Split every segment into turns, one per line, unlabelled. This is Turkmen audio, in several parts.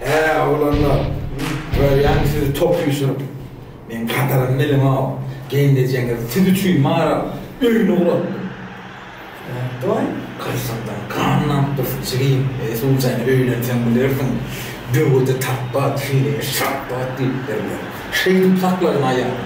Hä, oglanlar, görýäňmi sizi top süýşürip, meň gadyrym biziň-ow, gelnejeňiz siz üçin maral öýüni guratdym. Nätdiwaý, gyrsyňdan gan damyp dursun, çigim, eý, suwjaýyn, öýlenseň bilersiň, böwedi tapbat, heleýe şapbat diýipdirler, şeýdip sakladyň aýalymy.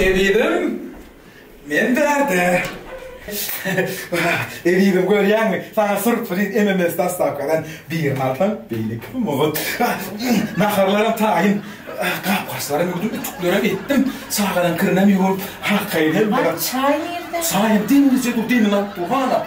Ebidem, men bärde. Ebidem görýäňmi? Sana surpriz MMS dastavkadan birini alsaň, beýle kim mugut. Naharlaram taýyn. Gap-gaçlaram ýuwdum, ütüklerem etdim. Çagadan kirinem ýuwup, halkaýy hem. Çaý nirde?
Çaýam deňizde dur,
demini alyp dur hana.